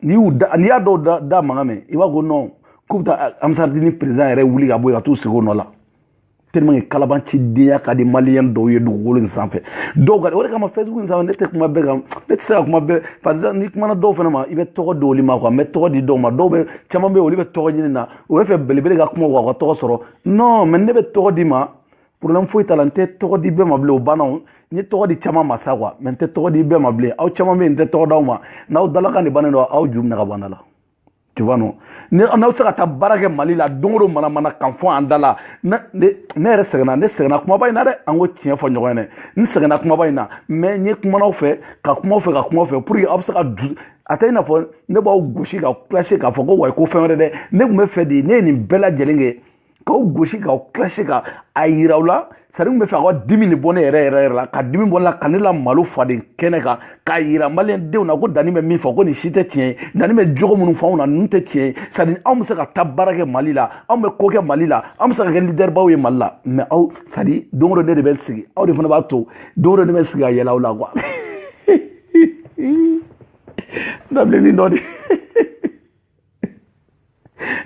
n'i y'u da n'i y'a dɔw da da mankan mɛn i b'a fɔ non k'u bɛ taa ansardini président yɛrɛ wuli ka bɔ yen ka t'u sigi o nɔ la tellement que kalabancidenya ka di maliyɛn dɔw ye dugukolo in sanfɛ dɔw ka o de kama facebook in sanfɛ ne tɛ kuma bɛɛ kan ne tɛ se ka kuma bɛɛ par exemple n'i kumana dɔw fana ma i bɛ tɔgɔ di olu ma quoi n bɛ tɔgɔ di dɔw ma dɔw bɛ caman bɛ yen olu bɛ tɔgɔ ɲini na u b'a fɛ belebele ka kuma u ka tɔgɔ sɔrɔ non mais ne bɛ tɔgɔ d'i ma problème foyi t'a la n tɛ tɔgɔ di bɛɛ ma bilen o banna o n ye tɔgɔ di caman ma sa quoi mais n tɛ tɔgɔ di bɛɛ ma bilen aw caman bɛ yen n tɛ tɔgɔ d'aw ma n'aw dalakan de bannen don aw ju minɛ ka bɔ an da la tu vois non n'aw bɛ se ka taa baara kɛ mali la don o don manamanakan fɔ an da la ne yɛrɛ sɛgɛnna ne sɛgɛnna kumaba in na dɛ an ka tiɲɛ fɔ ɲɔgɔn ye dɛ n sɛgɛnna kumaba in na mais n ye kumana aw fɛ ka kuma aw fɛ ka kuma aw fɛ pour que aw bɛ se ka du a tɛ i n'a fɔ ne b'aw gosi ka clasher k'a fɔ ko wayi ko fɛn wɛrɛ dɛ ne tun b'a fɛ de ne ye nin bɛɛ lajɛlen kɛ k'aw gosi k'aw clasher ka a yira aw la c'est à dire n b'a fɛ aw ka dimi de bɔ ne yɛrɛ yɛrɛ yɛrɛ la ka dimi bɔ ne la ka ne lamalo fadenkɛnɛ kan k'a yira maliyɛn denw na ko dani bɛ min fɔ ko nin si tɛ tiɲɛ ye dani bɛ jogo minnu fɔ anw na ninnu tɛ tiɲɛ ye c'est à dire anw bɛ se ka taa baara kɛ mali la anw bɛ ko kɛ mali la anw bɛ se ka kɛ lidɛribaw ye mali la mais aw c'est à dire don o don ne de bɛ sigi aw de fana b'a to don o don ne bɛ sigi ka yɛlɛ aw la quoi dabilennin dɔ de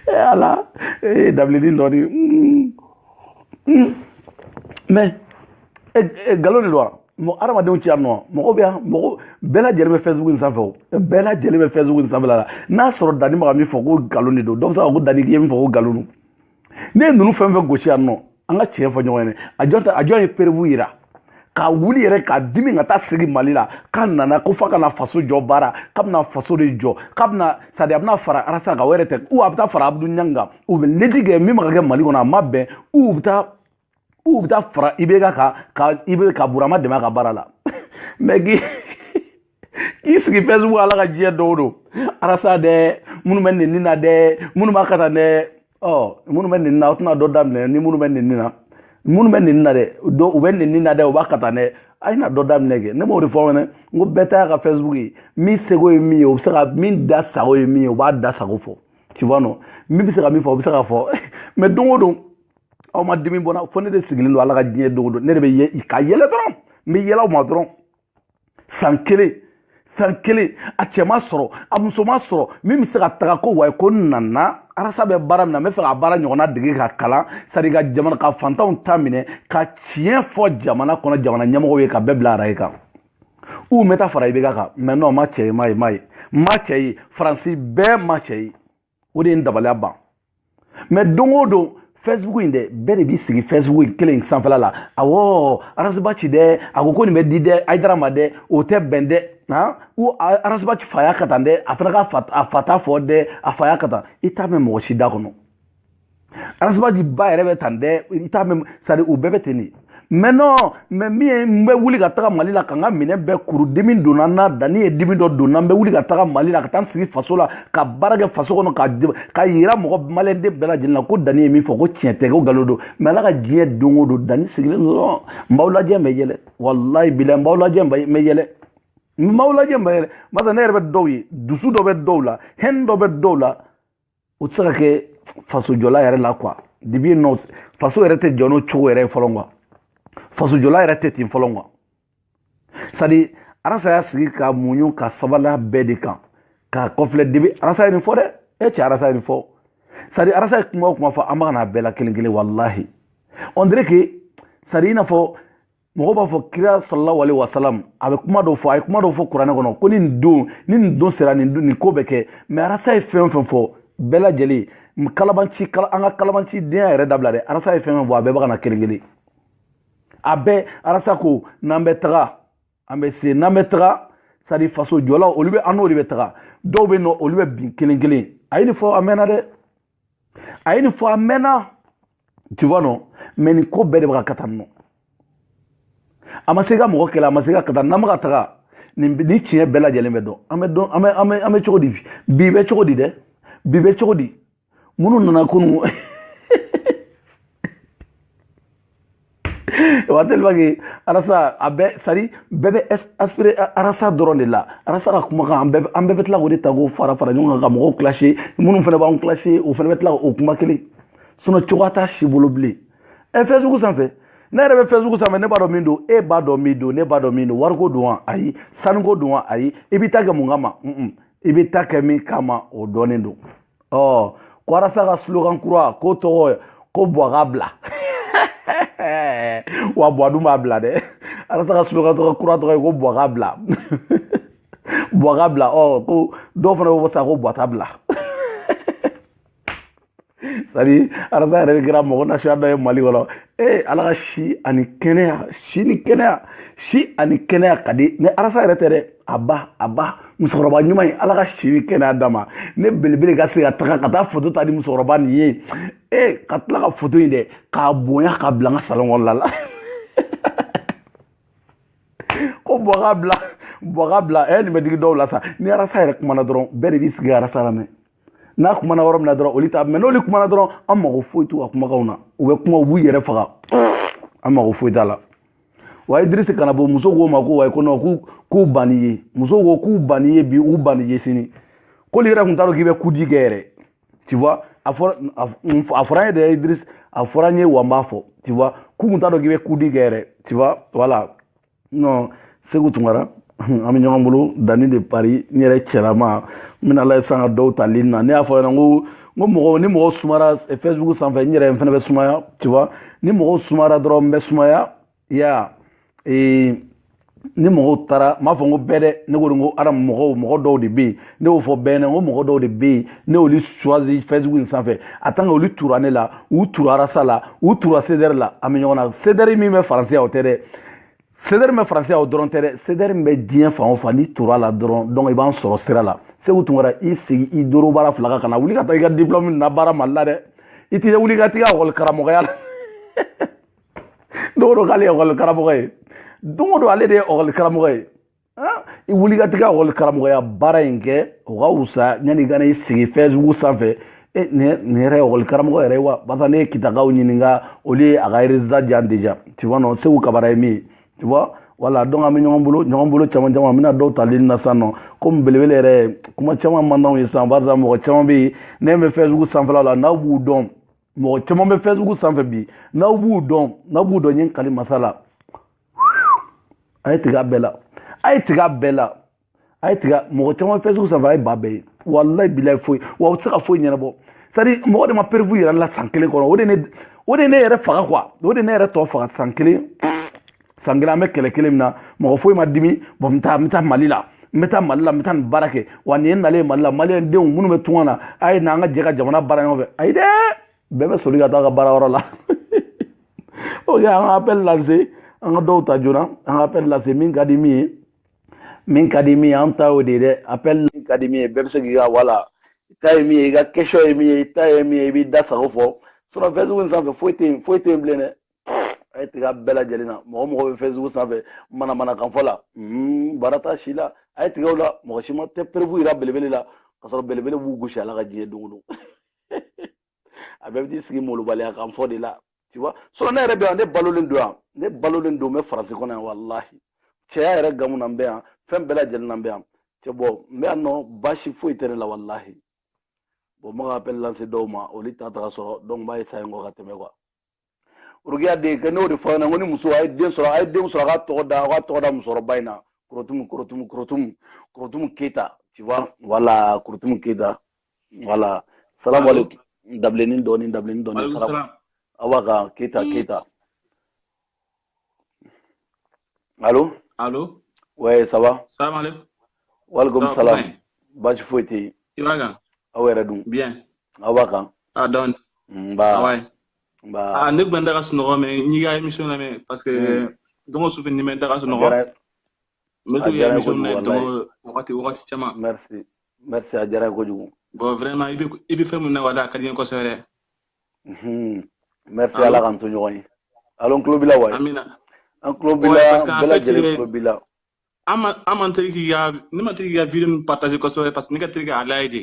ee ala ee dabilennin dɔ de mais nkalon de don wa mɔgɔ adamadenw tɛ yan wa mɔgɔ bɛ yan mɔgɔ bɛɛ lajɛlen bɛ facebook in sanfɛ o bɛɛ lajɛlen bɛ facebook in sanfɛla la n'a sɔrɔ dani bɛ ka min fɔ ko nkalon de don dɔ bɛ se k'a fɔ ko dani k'i ye min fɔ ko nkalon don ne ye ninnu fɛn fɛn gosi yan nɔ an ka tiɲɛ fɔ ɲɔgɔn ye a jɔn ta a jɔn ye perewu yira ka wuli yɛrɛ ka dimi ka taa sigi mali la k'a nana ko f'a ka na faso jɔ baara k'a bɛna faso de jɔ k'a bɛna c'est à dire a bɛna fara arasa kan o yɛrɛ tɛ ou a bɛ taa fara abudu ɲangi kan u bɛ lutte kɛ min ma ka kɛ mali kɔnɔ a ma bɛn ou bɛ taa ou bɛ taa fara ibk kan i bɛ ka burama dɛmɛ a ka baara la mais k'i k'i sigi facebook ala ka diɲɛ don o don arasa dɛ minnu bɛ nɛni na dɛ minnu b'a ka taa dɛ ɔ minnu bɛ nɛni na aw tɛna dɔ daminɛ ni minnu bɛ nɛni na minnu bɛ nɛni na dɛ dɔw u bɛ nɛni na dɛ u b'a ka taa dɛ a ye na dɔ daminɛ kɛ ne b'o de fɔ fɛnɛ n ko bɛɛ ta ka facebook ye min seko ye min ye o bɛ se ka min da sago ye min ye o b'a da sago fɔ tu vois non min bɛ se ka min fɔ o bɛ se ka fɔ mais don o don aw ma dimi bɔ n na fo ne de sigilen don ala ka diɲɛ don o don ne de bɛ ka yɛlɛ dɔrɔn n bɛ yɛlɛ aw ma dɔrɔn san kelen san kelen a cɛ ma sɔrɔ a muso ma sɔrɔ min bɛ se ka taga ko wayi ko n nana arasa bɛ baara min na n bɛ fɛ ka baara ɲɔgɔnna dege ka kalan c'est à dire ka jamana ka fantanw ta minɛ ka tiɲɛ fɔ jamana kɔnɔ jamana ɲɛmɔgɔw ye ka bɛɛ bila araye kan ou n bɛ taa fara ibk kan mais non ma cɛ ye ma ye ma ye ma cɛ ye faransi bɛɛ ma cɛ ye o de ye n dabaliya ban mais don o don facebook in dɛ bɛɛ de b'i sigi facebook kelen sanfɛla la awɔ arasibaci dɛ a ko ko nin bɛ di dɛ ayidara ma dɛ o tɛ bɛn dɛ han ko arasibaci fa y'a ka tan dɛ a fana ka a fa t'a fɔ dɛ a fa y'a ka tan i t'a mɛn mɔgɔ si da kɔnɔ arasibaci ba yɛrɛ bɛ tan dɛ i t'a mɛn c'est à dire u bɛɛ bɛ ten de mais non mais min ye n bɛ wuli ka taga mali la ka n ka minɛn bɛɛ kuru dimi donna n na dani ye dimi dɔ donna n bɛ wuli ka taga mali la ka taa n sigi faso la ka baara kɛ faso kɔnɔ ka k'a yira mɔgɔ maliyɛnden bɛɛ lajɛlen na ko dani ye min fɔ ko tiɲɛ tɛ ko nkalon don mais ala ka diɲɛ don o don dani sigilen dɔrɔn n b'aw lajɛ n bɛ yɛlɛ walayi bilayi n b'aw lajɛ n bɛ yɛlɛ n b'aw lajɛ n bɛ yɛlɛ barisa ne yɛrɛ bɛ dɔw ye dusu dɔ bɛ dɔw la hɛn dɔ bɛ dɔw la o tɛ se ka kɛ fasojɔla yɛrɛ la quoi depuis yen nɔ faso yɛrɛ tɛ jɔ n'o cogo yɛrɛ ye fɔlɔ quoi fasojɔla yɛrɛ tɛ ten fɔlɔ quoi c'est à dire arasa y'a sigi ka muɲu ka sabali bɛɛ de kan k'a kɔfilɛ depuis arasa ye nin fɔ dɛ e cɛ arasa ye nin fɔ c'est à dire arasa ye kuma o kuma fɔ an bɛ ka na a bɛɛ la kelen kelen walahi on dirait que c'est à dire i n'a fɔ mɔgɔ b'a fɔ kira sallallahu alaihi wasallam a bɛ kuma dɔ fɔ a ye kuma dɔ fɔ kuranɛ kɔnɔ ko nin don ni nin don sera nin don nin ko bɛ kɛ mais arasa ye fɛn o fɛn fɔ bɛɛ lajɛlen kalabanci an ka kalabanci denya yɛrɛ dabila dɛ arasa ye fɛn fɛn fɔ a bɛɛ bɛ ka na kelen kelen a bɛɛ arasa ko n'an bɛ taga an bɛ se n'an bɛ taga c'est à dire fasojɔlaw olu bɛ an n'olu bɛ taga dɔw bɛ yen nɔ olu bɛ bin kelen kelen a ye nin fɔ a mɛnna dɛ a ye nin fɔ a mɛnna tu vois non mais nin ko bɛɛ de bɛ ka kata nɔ a ma se ka mɔgɔ kɛlɛ a ma se ka kata n'an bɛ ka taga nin ni tiɲɛ bɛɛ lajɛlen bɛ dɔn an bɛ dɔn an bɛ an bɛ an bɛ cogo di bi bɛ cogo di dɛ bi bɛ cogo di minnu nana kunun wa tellement que arasa a bɛɛ c'est-à-dire bɛɛ bɛ aspiré arasa dɔrɔn de la arasa ka kumakan an bɛɛ an bɛɛ bɛ tila k'o de ta k'o fara fara ɲɔgɔn kan ka mɔgɔw clashé minnu fana b'an clashé o fana bɛ tila k'o kuma kelen sinon cogoya t'a si bolo bilen ɛ facebook sanfɛ ne yɛrɛ bɛ facebook sanfɛ ne b'a dɔn min don e b'a dɔn min don ne b'a dɔn min don wariko don wa ayi sanuko don wa ayi i bɛ taa kɛ mun kama i bɛ taa kɛ min kama o dɔnnen don ɔ ko arasa ka slogan kura ko tɔgɔ ko buwa ka bila wa buwa dun b'a bila dɛ arasa ka slogan tɔgɔ kura tɔgɔ ye ko buwa ka bila buwa ka bila ɔ ko dɔw fana b'a fɔ sa ko buwa t'a bila c'est-à-dire arasa yɛrɛ de kɛra mɔgɔ nasuya dɔ ye mali kɔnɔ ee ala ka si ani kɛnɛya si ni kɛnɛya si ani kɛnɛya ka di ni arasa yɛrɛ tɛ dɛ a ba a ba musokɔrɔba ɲuman ye ala ka si ni kɛnɛya d'a ma ne belebele ka se ka taga ka taa foto ta ni musokɔrɔba nin ye ee ka tila ka foto in dɛ k'a bonya k'a bila n ka salon kɔnɔna la ko buwa ka bila buwa ka bila ɛ nin bɛ digi dɔw la sa ni arasa yɛrɛ kumana dɔrɔn bɛɛ de b'i sigi arasa lamɛn n'a kumana yɔrɔ min na dɔrɔn olu ta mais n'olu kumana dɔrɔn an mago foyi t'u ka kumakanw na u bɛ kuma u b'u yɛrɛ faga an mago foyi t'a la wa idirisi kana bɔ muso ko ma ko ayi ko non k'u k'u banni ye muso ko k'u banni ye bi u banni ye sini k'olu yɛrɛ tun t'a dɔn k'i bɛ kudi kɛ yɛrɛ tu vois a fɔra a fɔra an ye dɛ idirisi a fɔra an ye wa n b'a fɔ tu vois k'u tun t'a dɔn k'i bɛ kudi kɛ yɛrɛ tu vois voilà non segu tunkara an bɛ ɲɔgɔn bolo dani de paris n yɛrɛ cɛlama n bɛna a lajɛ sa n ka dɔw ta ligne na ne y'a fɔ ɲɛna ko n ko mɔgɔ ni mɔgɔ sumara facebook sanfɛ n yɛrɛ n fana bɛ sumaya tu vois ni mɔgɔw sumara dɔrɔn n bɛ sumaya ya ee ni mɔgɔw taara n b'a fɔ n ko bɛɛ dɛ ne ko de ko ara mɔgɔw mɔgɔ dɔw de bɛ yen ne y'o fɔ bɛɛ ɲɛna ko mɔgɔ dɔw de bɛ yen ne y'olu choisi facebook in sanfɛ a tant que olu tura ne la u tura arasa la u tura sedɛri la an bɛ ɲɔgɔn na sedɛri min bɛ faransi o tɛ dɛ sedɛri bɛ faransi o dɔrɔn tɛ dɛ sedɛri min bɛ diɲɛ fan o fan n'i tura la dɔrɔn donc i b'an sɔrɔ sira la segu tunkara i sigi i bobara fila kan kana wuli ka taa i ka diplɔmu labaara mali la dɛ i tɛ wuli ka t'i ka ekɔli karamɔgɔya la don o don k'ale ye ekɔli karamɔgɔ ye don o don ale de ye ekɔli karamɔgɔ ye i wuli ka t'i ka ekɔli karamɔgɔya baara in kɛ o ka wusa yanni i ka n'i sigi fɛsibuku sanfɛ nin yɛrɛ ye ekɔli karamɔgɔ yɛrɛ ye wa parce que ne ye kitakaw ɲininka olu ye a ka résultat di yan déjà tu vois non segu kabara ye min ye tu vois voilà donc an bɛ ɲɔgɔn bolo ɲɔgɔn bolo caman caman an bɛna dɔw tali na sisan nɔ komi belebele yɛrɛ kuma caman man d'anw ye sisan barisa mɔgɔ caman bɛ yen ne bɛ fɛsibuku sanfɛla la n'aw b'u dɔn mɔgɔ caman bɛ fɛsibuku sanfɛ bi n'aw b'u dɔn n'aw b'u dɔn n ye n kali masa la a ye tigɛ a bɛɛ la a ye tigɛ a bɛɛ la a ye tigɛ mɔgɔ caman fɛsibuku sanfɛ a ye ba bɛɛ ye walayi bilayi foyi wa u tɛ se ka foyi ɲɛnabɔ c'est-à-dire mɔgɔ de ma preuve yɛrɛ la san kelen kɔnɔ o de ne o de ne yɛrɛ faga quoi o de ne yɛrɛ tɔ faga san kelen san kelen an bɛ kɛlɛ kelen min na mɔgɔ foyi ma dimi bon n bɛ taa n bɛ taa mali la n bɛ taa mali la n bɛ taa nin baara kɛ wa nin ye nalen mali la maliyɛn denw minnu bɛ tunga na a ye na an ka jɛ ka jamana baara ɲɔgɔn fɛ ayi dɛ bɛɛ bɛ soli ka taa a ka baara yɔrɔ la ok an ka appel lancer an ka dɔw ta joona an ka appel lancer min ka di min ye min ka di min ye an ta y'o de ye dɛ appel min ka di min ye bɛɛ bɛ se k'i ka voilà i ta ye min ye i ka question ye min ye i ta ye min ye i b'i da sago fɔ sinon fɛsibuku in sanfɛ foyi tɛ yen foyi tɛ yen bilen dɛ a ye tigɛ a bɛɛ lajɛlen na mɔgɔ mɔgɔ bɛ fɛsibuku sanfɛ manamanakanfɔ la baara t'a si la a ye tigɛ o la mɔgɔ si ma tɛ preuve jira belebele la k'a sɔrɔ belebele b'u gosi ala ka diɲɛ don o don a bɛɛ bɛ t'i sigi molobaliya kan fɔ de la tu vois sinon ne yɛrɛ bɛ yan ne balolen don yan ne balolen don n bɛ faransi kɔnɔ yan walahi cɛya yɛrɛ gamu na n bɛ yan fɛn bɛɛ lajɛlen na n bɛ yan cɛ bon n bɛ yan nɔ baasi foyi tɛ ne la walahi bon n bɛ ka appel lancer dɔw ma olu t'a ta ka sɔrɔ donc n b'a essayer n kɔ ka tɛmɛ quoi urukiya de kɛ n'o de fɔ ɲɛna ko ni muso a ye den sɔrɔ a ye denw sɔrɔ a ka tɔgɔ da a ka tɔgɔ da musokɔrɔba in na korotumu korotumu korotumu korotumu keyita tu vois voilà korotumu keyita voilà salamu aleykum dabilennin dɔɔni dabilennin dɔɔni Walekum salamu salam. awa ka keyita keyita alo Alo. ouais ça va Salam aleykum. walekum Ça va, salam comment est? baasi foyi tɛ yen I b'a kan? aw yɛrɛ dun Bien. aw b'a kan Ah, donc, nba ah ouais. Bah... Ah, ne tun bɛ n da ka sunɔgɔ mais n y'i ka émission lamɛn parce que mm. don o su fɛ ni n bɛ n da ka sunɔgɔ n bɛ to k'i ka émission lamɛn don o wagati wagati caman merci merci a diyara n ye kojugu bon vraiment i bɛ i bɛ fɛn min na wala a ka di n ye kosɛbɛ dɛ merci ala k'an to ɲɔgɔn ye alo n tulo b'i la ouais amina an tulo b'i la bɛɛ lajɛlen tulo b'i la an ma an man teri k'i ka ne man teri k'i ka video partager kosɛbɛ parce que ne ka teri k'a lajɛ de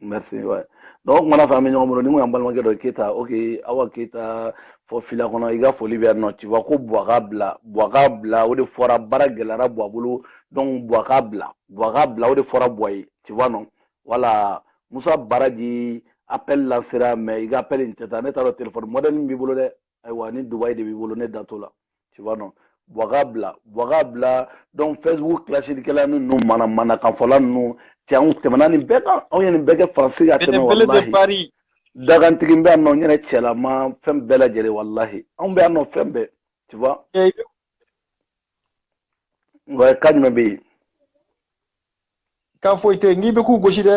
merci ouais donc o kumana fɛ an bɛ ɲɔgɔn bolo ni ko y'an balimakɛ dɔ keyita ok awa keyita fɔ fila kɔnɔ i ka foli bɛ yan nɔ tu vois ko buwa k'a bila buwa k'a bila o de fɔra baara gɛlɛyara buwa bolo donc buwa k'a bila buwa k'a bila o de fɔra buwa ye tu vois non voilà musa baraji appel lansera mais i ka appel in tɛ taa ne t'a dɔn telefɔni mɔdɛli min b'i bolo dɛ ayiwa ni dubayi de b'i bolo ne da t'o la tu vois non Buwa k'a bila Buwa k'a bila donc facebook clashikɛla ninnu manamanakanfɔla ninnu cɛ anw tɛmɛna nin bɛɛ kan anw ye nin bɛɛ kɛ faransi ka tɛmɛ walahi dakantigi bɛ yan nɔ n yɛrɛ cɛlama fɛn bɛɛ lajɛlen walahi anw bɛ yan nɔ fɛn bɛɛ tu vois wa ka jumɛn bɛ yen kan foyi tɛ n'i bɛ k'u gosi dɛ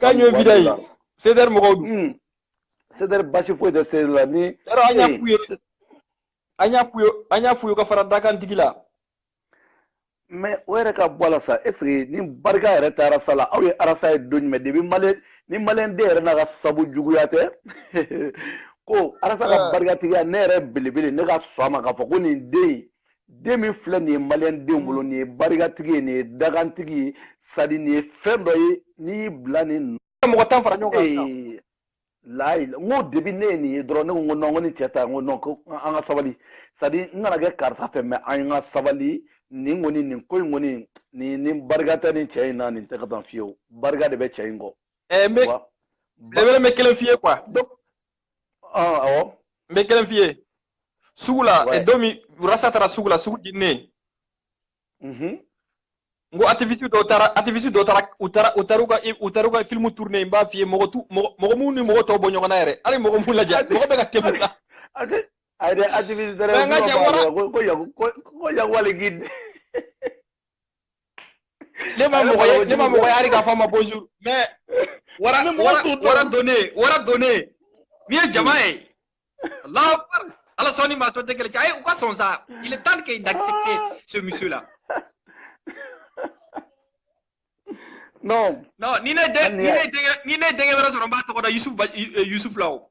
k'a ɲɔ vida ye sedɛri mɔgɔw dun hmm. sedɛri basi foyi tɛ sedɛri la ni yɔrɔ an y'a f'u ye an y'a f'u ye an y'a f'u ye ka fara dakantigi la mais o yɛrɛ ka bɔ a la sa est-ce que ni barika yɛrɛ tɛ arasa la aw ye arasa ye don jumɛn depuis mali ni maliyɛn den yɛrɛ n'a ka sabu juguya tɛ ko arasa ka ah. barikatigiya ne yɛrɛ belebele ne ka sɔn a ma k'a fɔ ko nin den den min filɛ nin ye maliyɛn den bolo nin ye barikatigi ye nin ye dakantigi ye sadi nin ye fɛn dɔ ye n'i y'i bila nin mɔgɔ tan fara ɲɔgɔn kan layi n ko depuis ne ye nin ye dɔrɔn ne ko non ko ni cɛ ta n ko non ko an ka sabali sadi n kana kɛ karisa fɛ mais an ka sabali nin kɔni nin ko in kɔni nin ni barika tɛ nin cɛ in na nin tɛ kɛ tan fiyewu barika de bɛ cɛ in kɔ. ɛɛ n bɛ belebele bɛ kelen f'i ye quoi. awɔ n bɛ kelen f'i ye sugu la eh, don min rasa taara sugu la sugu jeninen mhm. n ko activiste dɔw taara activiste dɔw taara u taara u taara u ka u taara u ka film tourner n b'a f'i ye mɔgɔ tu mɔgɔ minnu ni mɔgɔ tɔw bɔ ɲɔgɔn na yɛrɛ hali mɔgɔ m'u lajɛ mɔgɔ bɛ ka tɛmɛ u la ayi dɛ activiste dɛrɛ ko ko yagu ko yagu ale k'i ne ma mɔgɔ ye ne ma mɔgɔ ye hali k'a fɔ a ma bonjour mais wara wara wara donnen wara donnen min ye jama ye Allahu akbar ala sɔnni ma tɔ tɛ kɛlɛ cɛ ayi u ka sɔn sa il est temps que d'accepter ce monsieur là non non ni ne denkɛ ni ne denkɛ ni ne denkɛ wɛrɛ sɔrɔ n b'a tɔgɔ da Yusuf Yusuf la o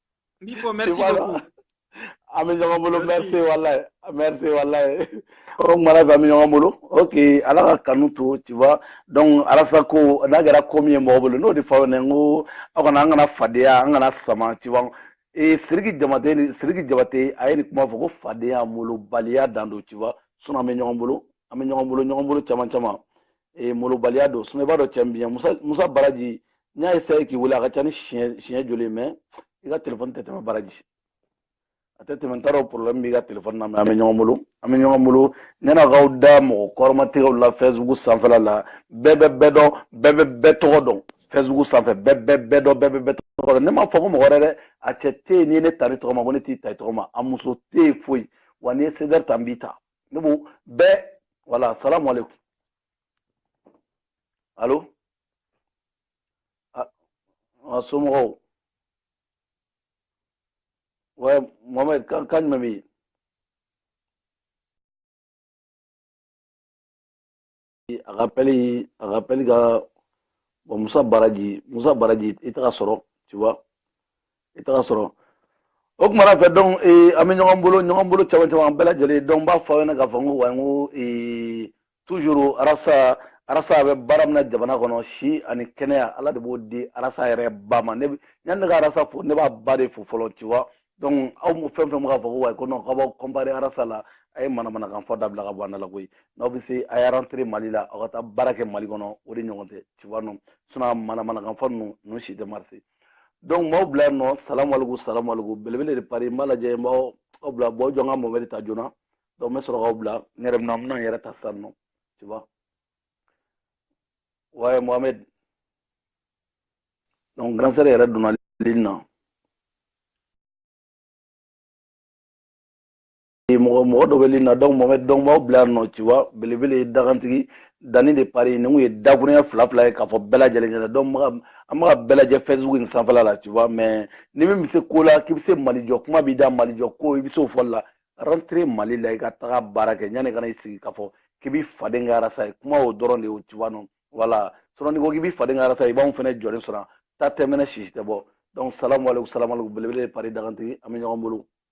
Min fɔ merci Voilà. beaucoup. An bɛ ɲɔgɔn bolo Merci. merci walayi merci walayi o kuma la bi an bɛ ɲɔgɔn bolo ok ala ka kanu to tu vois donc arasa ko n'a kɛra ko min ye mɔgɔ bolo n'o de fɔ aw ɲɛna n ko aw kana an kana fadenya an kana sama tu vois ee siriki jabate ni siriki jabate a ye nin kuma fɔ ko fadenya molobaliya dan don tu vois sinon an bɛ ɲɔgɔn bolo an bɛ ɲɔgɔn bolo ɲɔgɔn bolo caman caman ee molobaliya don sinon i b'a dɔn cɛ min musa musa baraji n y'a essayé k'i wele a ka ca ni siɲɛ siɲɛ joli mais i ka telefɔni tɛ tɛmɛ baraji a tɛ tɛmɛ n t'a dɔn problème b'i ka telefɔni na mais an bɛ ɲɔgɔn bolo an bɛ ɲɔgɔn bolo ɲɛnakaw da mɔgɔ kɔrɔmatigɛw la facebook sanfɛla la bɛɛ bɛ bɛɛ dɔn bɛɛ bɛ bɛɛ tɔgɔ dɔn facebook sanfɛ bɛɛ bɛ bɛɛ dɔn bɛɛ bɛ bɛɛ tɔgɔ dɔn ne m'a fɔ ko mɔgɔ wɛrɛ dɛ a cɛ tɛ yen n'i ye ne ta n tɔgɔ ma ko ne t'i ta i tɔgɔ ma a muso tɛ yen foyi wa n'i ye sedɛri ta n b'i ta ne b'o bɛɛ voilà salamu aleykum allô a somɔgɔw ouais mohamɛd kan jumɛn bɛ yen a ka pɛli a ka pɛli ka bon musa baraji musa baraji i taga sɔrɔ tu vois i taga sɔrɔ o kuma na fɛ donc ee an bɛ ɲɔgɔn bolo ɲɔgɔn bolo caman caman bɛɛ lajɛlen donc n b'a fɔ aw ɲɛna k'a fɔ n ko wa n ko ee toujours arasa arasa bɛ baara min na jamana kɔnɔ si ani kɛnɛya ala de b'o di arasa yɛrɛ ba ma ne yanni ne ka arasa fo ne b'a ba de fo fɔlɔ tu vois donc aw mu fɛn fɛn bɛ k'a fɔ ko ouais ko non k'aw b'aw comparer arasa la a ye manamanakan fɔ dabila ka bɔ an da la koyi n'aw bɛ se a y'a rentrer mali la aw ka taa baara kɛ mali kɔnɔ o de ɲɔgɔn tɛ tu vois non sinon a manamanakan fɔ ninnu ninnu si tɛ marcher donc m'aw bila yan nɔ salamu aleykum salamu aleykum belebele de paris n b'a lajɛ n b'aw aw bila bon jɔ n ka mohamɛdi ta joona donc n bɛ sɔrɔ k'aw bila n yɛrɛ bɛna n bɛna n yɛrɛ ta sisan nɔ tu vois ouais mohamɛdi donc grande sœur yɛrɛ donna ligne na mɔgɔ mɔgɔ dɔ bɛ ligne na donc mohamɛd donc b'aw bila yan nɔ tu vois belebele ye dagantigi dani de paris nin kun ye dakuruɲɛ fila fila ye k'a fɔ bɛɛ lajɛlen ɲɛna donc an bɛ k'a bɛɛ lajɛ facebook nin sanfɛla la tu vois mais ni min bɛ se ko la k'i bɛ se mali jɔ kuma b'i da mali jɔ ko i bɛ se o fɔli la rentre mali la i ka taga baara kɛ yanni i kana i sigi k'a fɔ k'i b'i faden kɛ arasa ye kuma o dɔrɔn de ye o tu vois non voilà sinon n'i ko k'i b'i faden kɛ arasa i b'anw fana jɔlen sɔrɔ ta tɛ mɛnɛ sisi tɛ bɔ donc salamu aleykum salamu aleykum belebele de paris dagantigi an bɛ ɲɔgɔn bolo